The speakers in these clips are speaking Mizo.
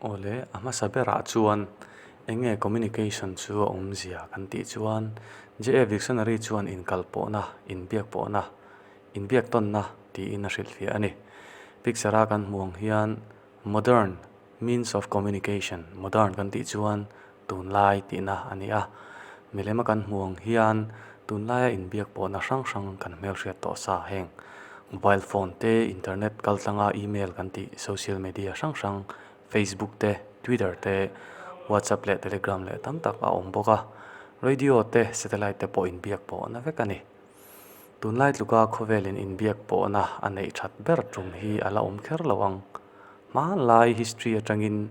Awle, a hmasa berah chuan eng nge communication chu a awmzia kan tih chuan JF Dictionary chuan inkal pawhna, inbiak pawhna, inbiak tawnna tiin a hrilhfiah a ni. Picture a kan hmuh ang hian modern means of communication, modern kan tih chuan. Tunlai tihna a ni a, milem a kan hmuh ang hian tunlaia inbiak pawhna hrang hrang kan hmelhriat tawh sa heng. Mobile phone te, internet kaltlanga email kan tih social media hrang hrang, Facebook te, Twitter te, WhatsApp leh Telegram leh tam tak a awm bawk a. Radio te, satellite te pawh inbiak pawhna vek a ni. Tunlai tluka khawvelin inbiak pawhna a neih that ber tum hi a la awm kher lo ang. Hmanlai history atangin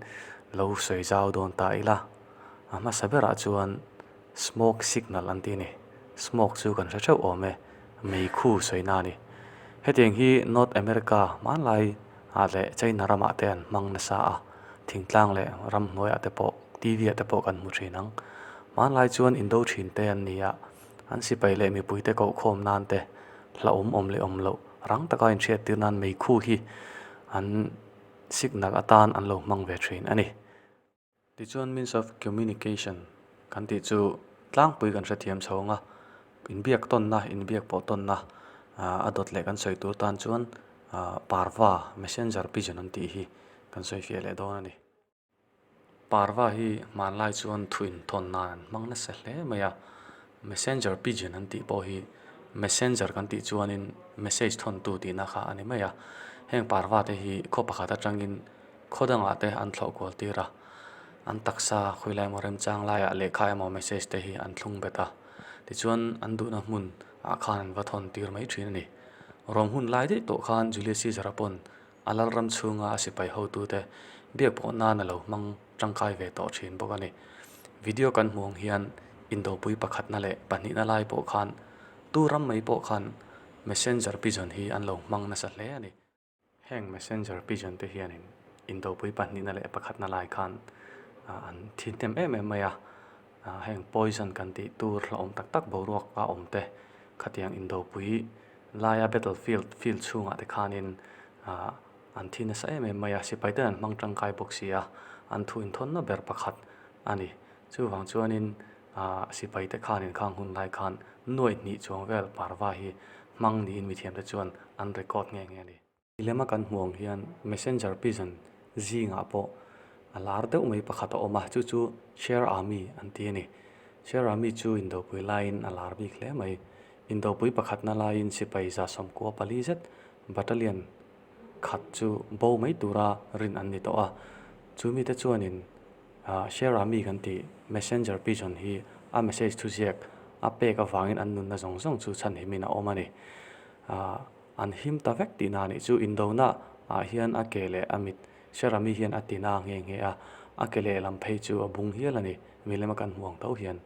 lo sawi zau dawn ta ila, a hmasa berah chuan smoke signal an tih a ni. Smoke chu kan hre theuh awm e, mei khu sawina a ni. Hetiang hi North America hmanlai ah leh China ramah te an hmang nasa a, thingtlang leh ram hnuaiah te pawh, TV ah te pawh kan hmu thin ang. Hmanlai chuan Indo thinte an ni a, An sipai leh mipuite kohkhawm nan te hla awm awm leh awm loh rang taka inhriattir nan mei khu hi an signal atan an lo hmang ve thin a ni. Tichuan means of communication kan tih chu tlangpui kan hrethiam chho ang a, inbiak tawnna, inbiak pawh tawnna a dawt leh kan sawi tur tan chuan parva, messenger pigeon an tih hi kan sawi fiah leh dawn a ni. Parva hi hmanlai chuan thu inthawn nan an hmang nasa hle mai a. Messenger pigeon an tih pawh hi messenger kan tih chuanin message thawn tu tihna kha a ni mai a. Heng parva te hi khaw pakhat atangin khaw dangah te an thlauh kual tir a. An taksa khawi lai emaw remchang laiah lehkha emaw message te hi an thlung bet a. Tichuan an duhna hmunah khan an va thawn tir mai thin a ni. Rawng hun lai daih tawh khan Julius Caesar a pawn. A Lalram chhunga a sipai hotute biak pawh nan a lo hmang tangkai ve tawh thin bawk a ni. Video kan hmuh ang hian indopui pakhatna leh pahnihna lai pawh khan tu ram mai pawh khan Messenger pigeon hi an lo hmang nasa hle a ni. Heng Messenger pigeon te hianin indopui pahnihna leh pakhatna lai khan an thi hnem em em mai a. Heng poison kan tih tur hla awm tak tak boruak a awm te khatiang indopui laia battle field field chhungah te khanin an thi nasa em em mai a, sipai ten an hmang tangkai bawk si a, an thu inthawnna ber pakhat a ni. Chuvang chuanin sipai te khan inkhang hun lai khan nuaih hnih chuang vel parva hi hmang niin mithiam te chuan an record nge nge a ni. Milem a kan hmu ang hian Messenger pisan zingah pawh a lar deuh mai pakhat a awm a, chu chu Share Army an ti a ni. Share Army chu Indopui laiin a lar bik hle mai. Indopui pakhatna laiin sipai zasawmkua pali zet, battalion, khat chu bo mai tura rin an ni tawh a. Chu mite chuanin Share Army kan tih Messenger pisan hi a message thuziak a pek avangin an nunna zawng zawng chu chhan himin a awm a ni. An him ta vek tihna a nih chu. Indona ah hian a ke leh a mit hre rami hian a ti na nge nge a, a ke leh lam phei chu a bung hial a ni, milem a kan hmuh ang tho hian.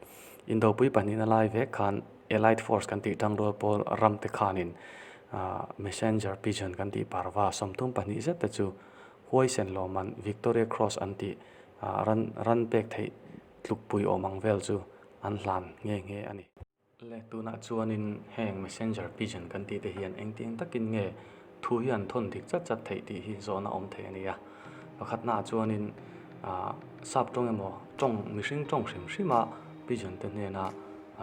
Indopui pahnihin a lai vek khan Allied Force kan tih tang rual pawl ram te khanin Messenger Pigeon kan tih parva sawmtum pahnih zet te chu huaisen lawm an Victoria Cross an tih ran ran pek theih tluk pui awm ang vel chu an hlan nge nge a ni. Le tunah chuanin heng Messenger pigeon kan tih te hian engti eng takin nge thu hi an thawn dik chat chat theih tih hi zawhna awm thei a ni a. Pakhat hnaah chuanin sap tawng emaw tawng mihring tawng hrim hrima pigeon te hnena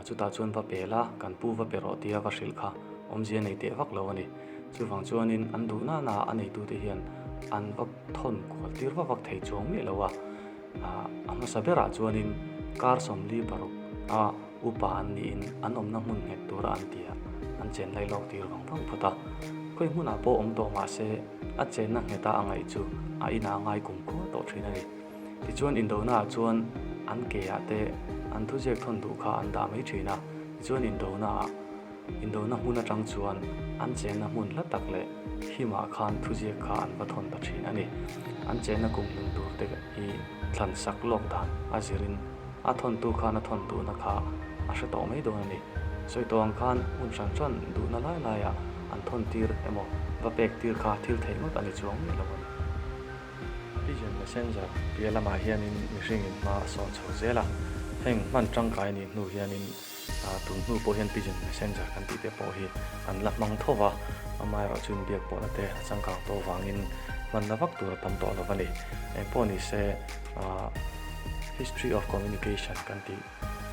chutah chuan va pe la, kan pu va pe rawh tia va hrilh kha awmzia nei teh vak lo a ni. Chuvang chuanin an duh nana a neitute hian an va thawn kual tir va vak thei chuang miah lo a. Ah, a hmasa berah chuanin kar sawmli paruk a upa an niin an awmna hmun nghet tura an tia an chen lai lawk tir vang vang phawt a. Khawi hmunah pawh awm tawh mahse, a chenna ngheta a ngaih chu a inah a ngai kum kual tawh thin a ni. Tichuan indonaah chuan an keah te an thuziak thawn duh kha an dah mai thin a, tichuan indonaah. Indona hmun atang chuan an chenna hmun hla tak leh him ah khan thuziak kha an va thawn ta thin a ni. An chenna kum hlim tur te hi thlan sak lawk dan a zir in a thawntu khan a thawn duhna kha a hre tawh mai dawn a ni. Sawi tawh ang khan hmun hran hran duhna lai lai ah an thawn tir emaw va pek tir kha thil theih ngawt a ni chuang miah lo a ni. Pigeon Messenger pialamah hian in mihring in hma a sawn chho zel a, heng hman tangkai nih hnu hian in. A tun hnu pawh hian pigeon messenger kan tih te pawh hi an la hmang tho va, amaherawh chu inbiak pawhna te a changkang tawh vangin hmanna vak tur a tam tawh lo va ni. Engpawh ni se, history of communication kan tih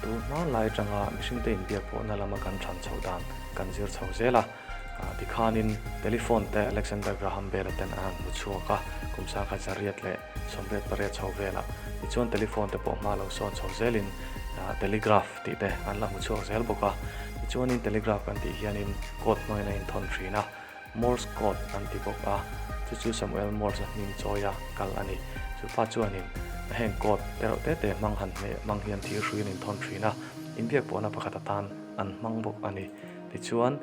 tur hmanlai atanga mihringte inbiak pawhna lama kan thran chho dan kan zir chho zel a. Tikhanin telephone te Alexander Graham Bell-a ten a han hmu chhuak a, kum sakhat zariat leh. Chawmret pariat chho velah mi chuan telephone te pawh hma lo sawn chho zelin telegraph tih te an la hmu chhuak zel bawk a. Tichuanin telegraph kan tih hianin code hnuain a inthawn thin a, Morse code an ti bawk a, chu chu Samuel Morse a hming chawi a kal a ni. Chupa chuanin heng code tereuh te te hmang han hneh hmang hian thir hrui an inthawn thin a, inbiak pawhna pakhat atan an hmang bawk a ni. Tichuan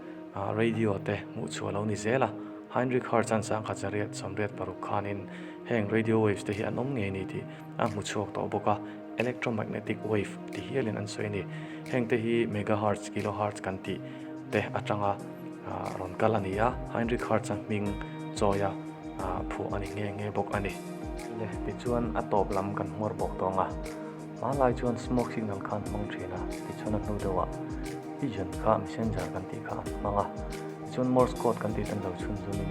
radio te hmuh chhuah lo ni zel a. Heinrich Hardt chuan sangkhat zariat sawmriat paruk khanin heng radio waves te hi an awm ngei ni tih a hmu chhuak tawh bawk a, electromagnetic wave ti hialin an sawi a ni. Hengte hi megahertz, kilohertz kan tih te atanga rawn kal a ni a, Heinrich Hardt a hming chawi a phuah a ni nghe nghe bawk a ni. Leh tichuan a tawp lam kan hmuar bawk tawng a. Hma lai chuan smoke signal khan a hmang thin a, tichuan a hnu deuhah pigeon kha messenger kan tih kha an hmang a, tichuan morse code kan tih ten lo chhun zumin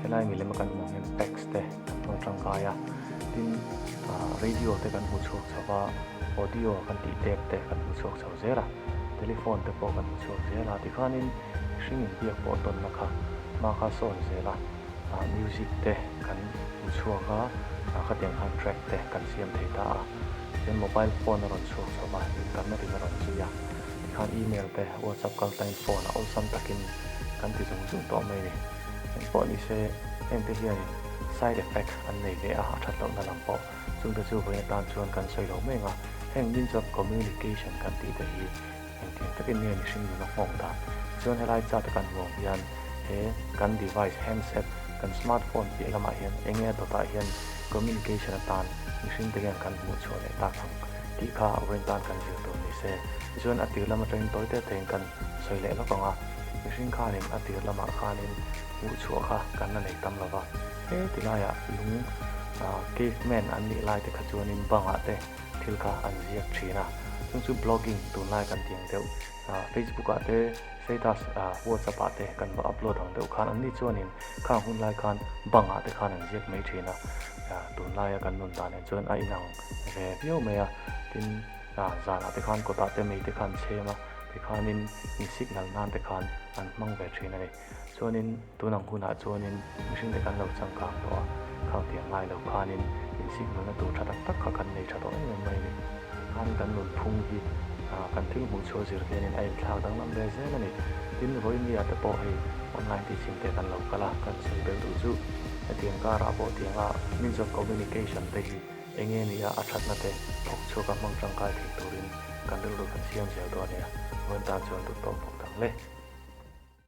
helai milem a kan hmuh angin text te kan hmang tangkai a, tin radio te kan hmu chhuak chho va, audio kan tih tape te kan hmu chhuak chho zel a, telephone te pawh kan hmu chhuak zel a, tikhanin mihring inbiak pawh dawnna kha hma kha sawi zel a. music te kan in chhuak a a khatiang khan track te kan siam thei ta a chuan mobile phone a rawn chhuak chhuak a in karna rim a rawn zui a tikhan email te whatsapp kal ta in phone a awlsam takin kan ti zung zung tawh mai ni eng pawh ni se hengte hianin side effect an nei leh a a that lohna lam pawh chungte chu vawiin atan chuan kan sawi lo meng a heng min chuan communication kan tih te hi-- Engtin takin nge mihring nuna nghawng dan? Chuan helai chat a kan ruang hian he kan device, handset, kan smartphone piah lamah hian enge a dawtah hian communication atan mihring te hian kan hmuhchhuah leh tak ang tih kha a vawiin tan kan zir tur nise. Tichuan a tirlam atangin tawi teh tehin kan sawi leh lawk ang a, mihring khanin a tirlamah khanin hmuhchhuah kha kan la nei tam lo va. Hetilaia lung caveman an nih lai te kha chuanin bangah te, thil kha an ziak thin a, chung chu blogging tunlai kan ti ang deuh, Facebook ah te status WhatsApp ah te kan va upload ang deuh khan anni chuanin khang hun lai khan bang ah te khan an ziak mai thin a, tunlai a kan nun dan en chuan a inang ve viau mai a, tin zan ah te khan kawtah te mei te khan an chhem a, tikhanin in signal nan te khan an hmang ve thin a ni. Chuanin tun ang hunah chuanin mihring leh kan lo changkang tawh a, khang tiang ngai lo khanin insihnawlna tur tha tak tak kha kan nei tha tawh em em mai a ni. Khan kan nunphung hi kan thil hmuh chhuah zir hianin a inthlak danglam ve zel a ni. Tin, Rohingya te pawh hei online teaching te kan lo kal a, kan sawi bel duh chu hetiang karah pawh tianga means of communication te hi eng nge ni a, a thatna te thawk chhuak a hmang tangkai theih turin kan rilru kan siam zel tawh a nia. Vawiin tan chuan dut pawh a pawk dang le.